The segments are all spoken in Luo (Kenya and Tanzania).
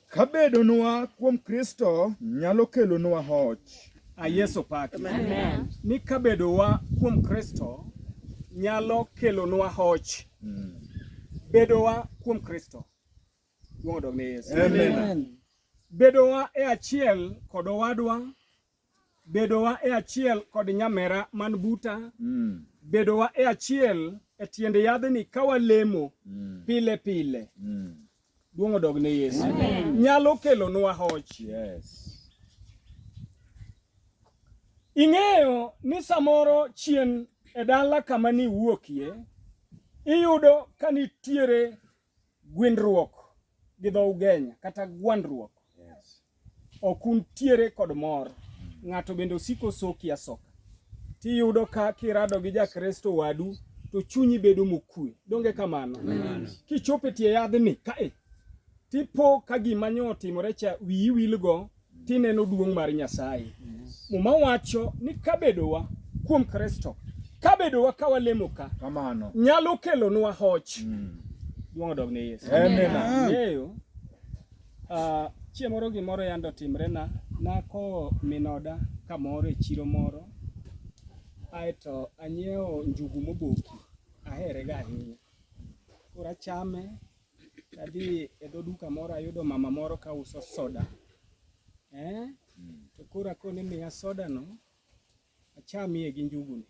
Ka bedonwa kuom Kristo nyalo kelonwa hoch. A Yesu paki. Amen. Ni ka bedowa kuom Kristo nyalo kelonwa hoch. Mm. Bedowa kuom Kristo. Wuodog ne Yesu. Amen. Bedowa e achiel kod owadwa bedowa e achiel kod nyamera man buta mm. bedowa e achiel e tiend yadhni ka walemo mm. pile pile mm. duong' odog ne Yesu nyalo kelonwa hoch yes. ing'eyo ni samoro chien e dala kama ni wuokie iyudo ka nitiere Gwindruok gi dho Ugenya kata gwandruok. Yes. Ok untiere kod mor. Mm. Ng'ato bende osiko soki asoka. Tiyudo ka kirado gi Jakristo wadu to chunyi bedo mokue. Donge kamano? Kichopo e tie yadhni kae tipo ka gima nyo otimore cha wiyi wilgo tineno duong' mar Nyasaye. Muma wacho ni kabedowa kuom Kristo, kabedowa ka walemo ka kamano nyalo kelonwa hoch. Mm. Duong' odog ne Yesu. Amen. Ah, chieng' moro gimoro yande otimrena, nakowo min oda kamoro e chiro moro aeto anyiewo njugu moboki aherega ahinya. Koro achame Adhi e dho duka moro ayudo mama moro ka uso soda. Eh? To koro akone miya soda no achamie gi njugu ni.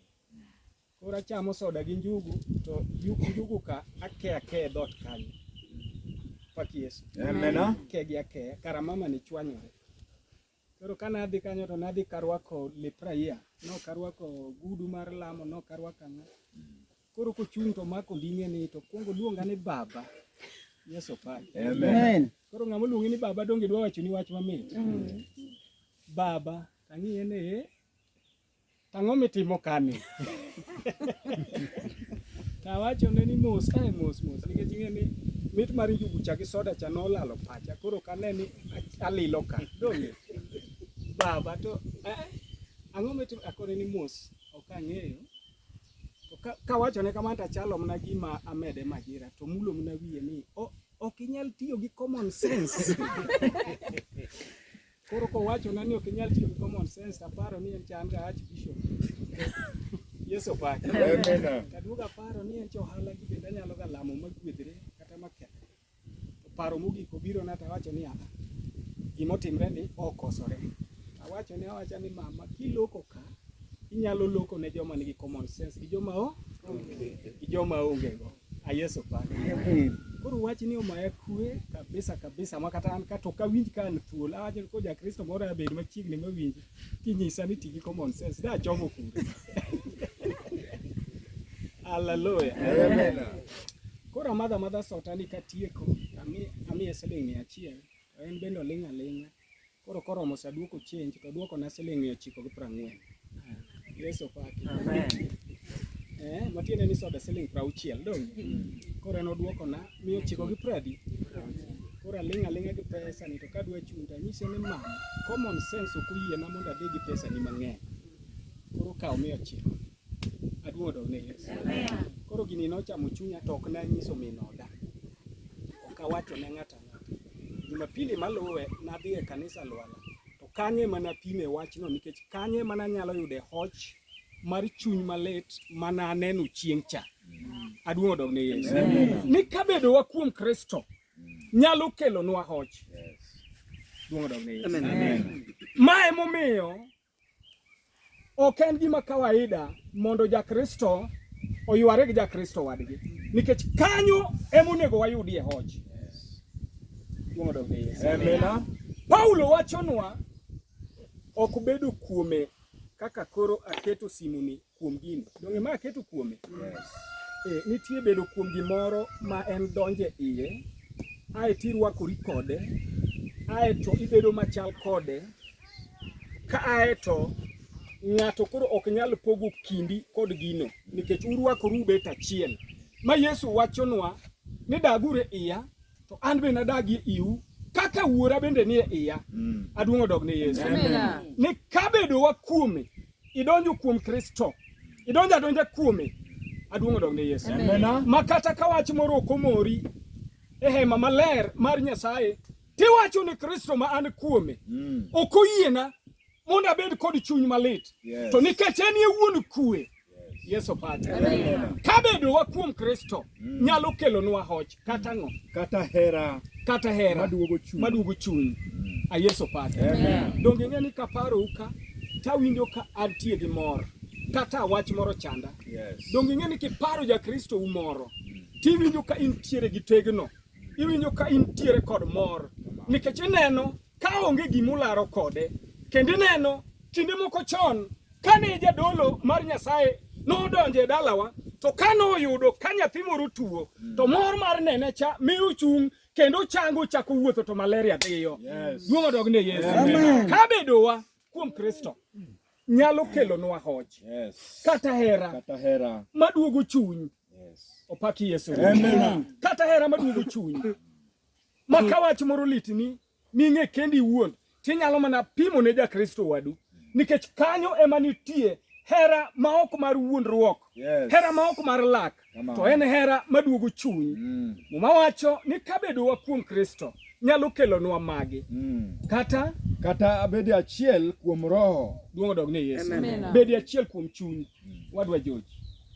Koro achamo soda gi njugu to njugu njugu ka ake ake e dhoot kanyo. Pak Yesu. Amena. Ake gi ake kara mama ni chwanyore. Koro ka nadhi kanyo to nadhi karwako lep raia, nok arwako gudu mar lamo, nok arwako ang'o. Koro kochung' to omako onding'eni to kwongo oluonga ni baba. Yesu opaki. Amen. Koro ng'ama oluongi ni baba donge dwa wachoni wach mamit. Baba, ang'iye ni eh, Ang'o mitimo kani? Nawachone ni mos kae mos mos nikech ing'e ni mit mar njugu cha gi soda cha nolalo pacha koro kane ni alilo ka dong' baba to eh, ang'o mitimo akone ni mos ok ang'eyo To ka- kawachone kamano to achalo mana gima amede majira to mulo mana wiye ni "O- ok inyal tiyo gi common sense Koro kowacho na ni ok inyal tiyo gi common sense aparo ni en chan ga ach bishop. Yesu pak. Amen. Kaduogo aparo ni en ohala gi bende anyalo ga lamo ma gwedhre kata ma kethre. To paro mogik obiro na tawacho ni ana. Gima otimre ni okosore. Awacho ni awacha ni mama kiloko ka inyalo loko ne joma nigi common sense gi joma o gi joma onge go. Ayeso pa. Koro wach ni omaya kwe kabisa kabisa ma kata an kato ka winj ka an thuol awacho ko ja Kristo moro ya bedo machiegni ma winj kinyisa ni tigi common sense da chomo kure. Hallelujah. Amen. Koro amadha madha sota ni katieko ami ami siling' mia achiel to en bende oling' aling'a Koro koromo sa duoko change to duokona siling' mia ochiko gi piero ang'wen. Yesu opaki. Eh, matiende ni soda siling' piero auchiel dong'. Koro en oduokona mia ochiko gi piero adi? Koro aling' aling'a gi pesani to kadwa chung' to anyise ni mama, common sense ok oyiena mondo adhi gi pesani mang'eny. Koro kaw mia ochiko. Aduong' odog ne Yesu. Koro gini nochamo chunya to ok nanyiso min oda. Ok awacho ne ng'ato Jumapili maluwe nadhi e kanisa Lwala to kanyo ema napime wachno nikech kanyo ema nanyalo yude hoch mar chuny malit mana aneno chieng' cha. Aduong' odog ne Yesu. Ni kabedowa kuom Kristo nyalo kelonwa hoch. Duong' odog ne Yesu. Ma emomiyo Ok en gima kawaida mondo Jakristo oyware gi Jakristo wadgi, nikech kanyo ema onego wayudie hoch. Paulo wachonwa ok bedo kuome kaka koro aketo simuni kuom gini donge ma aketo kuome yes. e, nitie bedo kuom gimoro ma en donje iye ae to irwakori kode ae to ibedo machal kode ka ae to ng'ato koro ok nyal pogo kindi kod gino nikech urwakoru ubet achiel ma Yesu wachonwa ni dagure iya to an be nadagie iu kaka wuora bende nie iya mm. aduong' odog ne Yesu ni kabedowa kuome idonjo kuom Kristo, idonjo adonja kuome, aduong' odog ne Yesu. Ma kata ka wach moro ok omori e hema maler mar Nyasaye, tiwacho ni Kristo ma an kuome, mm. ok oyiena mondo abed kod chuny malit, to nikech en ye wuon kuwe Yesu Padre. Kabedowa kuom Kristo mm. nyalo kelonwa hoch. Kata ng'o? Kata hera. Kata hera. Maduogo chuny. Maduogo chuny. Mm. A Yesu pake. Amen. Donge ing'e ni kaparo uka tawinjo ka antie gi mor kata wach moro chanda. Yes. Donge ing'e ni kiparo ja Kristo u moro mm. tiwinjo ka intiere gi tegno. Iwinjo ka intiere kod mor nikech ineno ka onge gima ularo kode. Kendo ineno kinde moko chon kane jadolo mar Nyasaye nodonjo e dalawa to kane oyudo ka nyathi moro tuo mm. to mor mar nene cha mi ochung' kendo chango chako wuotho to malaria dhiyo. Duong' odog ne Yesu. Ka bedowa kuom Kristo nyalo kelonwa hoch kata hera maduogo chuny. Opaki Yesu. Kata hera maduogo chuny. Ma ka wach moro litni ming'e kendi iwuon, tinyalo mana pimo ne Jakristo wadu, nikech kanyo ema nitie hera ma ok mar wuondruok, yes. hera ma ok mar lak, to en hera maduogo chuny. Mm. Muma wacho ni kabedowa kuom Kristo nyalo kelonwa magi mm. kata kata abedi achiel kuom roho duong' odog ne Yesu, bedi achiel kuom chuny mm. wadwa George,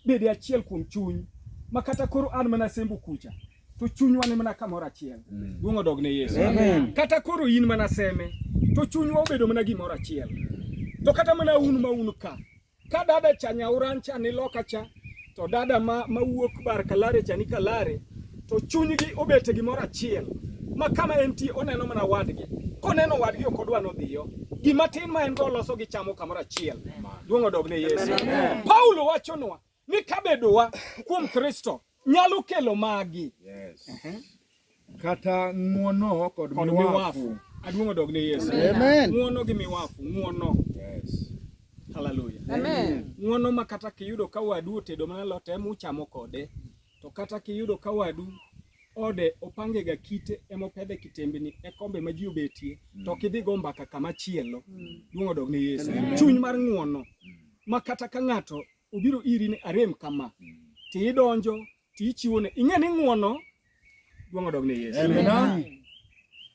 bedi achiel kuom chuny ma kata koro an mana sembo kucha to chunywa ni mana kamoro achiel. Mm. Duong' odog ne Yesu. Amen. Kata koro in mana seme to chunywa obedo mana gimoro achiel. To kata mana un ma un ka. Ka dada cha nyauran cha ni loka cha to dada ma mawuok bar kalare cha ni kalare to chunygi obet e gimoro achiel ma kama entie oneno mana wadgi. Koneno wadgi ok odwa nodhiyo. Gima tin ma en go loso gi chamo kamoro achiel. Duong' odog ne Yesu. Paulo wachonwa Ni kabedowa kuom Kristo nyalo kelo magi. Yes. Uh -huh. Kata ng'uono kod, kod miwafu. Aduong' odog ne Yesu. Amen. Ng'uono gi miwafu, ng'uono. Yes. Hallelujah. Amen. Ng'uono ma kata kiyudo ka wadu otedo mana lot ema uchamo kode. To kata kiyudo ka wadu ode opange ga kite emopedhe kitembni e kombe ma ji obetie mm. to kidhi go mbaka kama chielo mm. duong' odog ne Yesu. Chuny mar ng'uono mm. ma kata ka ng'ato obiro iri ni arem kama ti idonjo ti ichiwone ing'e ni ng'uono duong' odog ne Yesu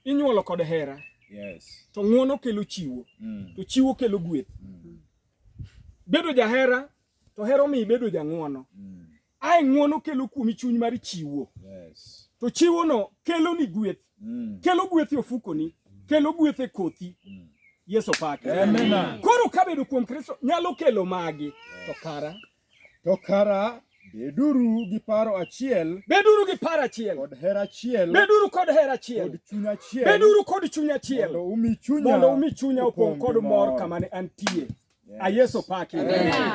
inyuolo kod hera yes. to ng'uono kelo chiwo mm. to chiwo kelo gweth mm. bedo jahera to hero mi ibedo jang'uono mm. ae ng'uono kelo kuomi chuny mar chiwo yes. to chiwono keloni gweth mm. kelo gweth e ofukoni, kelo gweth e kothi. Mm. Yesu pake. Koro kabedo kuom Kristo nyalo kelo magi to kara to kara Beduru gi paro achiel. Beduru gi paro achiel. Kod hera achiel. Beduru kod hera achiel. Kod chuny achiel. Beduru kod chuny achiel. Mondo umi chunya. Mondo umi chunya opong' kod mor kama ne antie. Yes. A Yesu paki.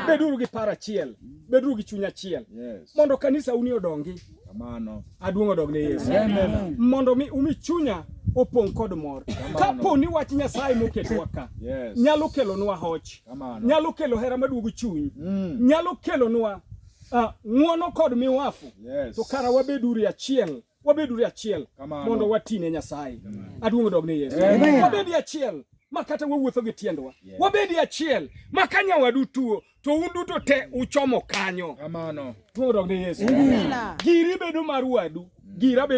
Beduru gi paro achiel, beduru gi chuny achiel. Yes. Mondo kanisa uni odongi. Kamano. Aduong' odog ne Yesu. Amen. Mondo mi umi chunya opong' kod mor. Kapo ni wach Nyasaye moketwa ka yes. nyalo kelonwa hoch, nyalo kelo hera maduogo chuny, mm. nyalo kelonwa uh, ng'wono kod miwafu yes. to kara wabeduru achiel wabeduru achiel mondo watine Nyasaye. Aduong' dog ne Yesu. Wabedi achiel ma kata wawuotho gi tiendwa. Yeah. Wabedi achiel ma ka nyawadu tuo to un duto te uchomo kanyo. Kamano. Duong' dog ne Yesu. Giri bedo mar wadu. Gira bedo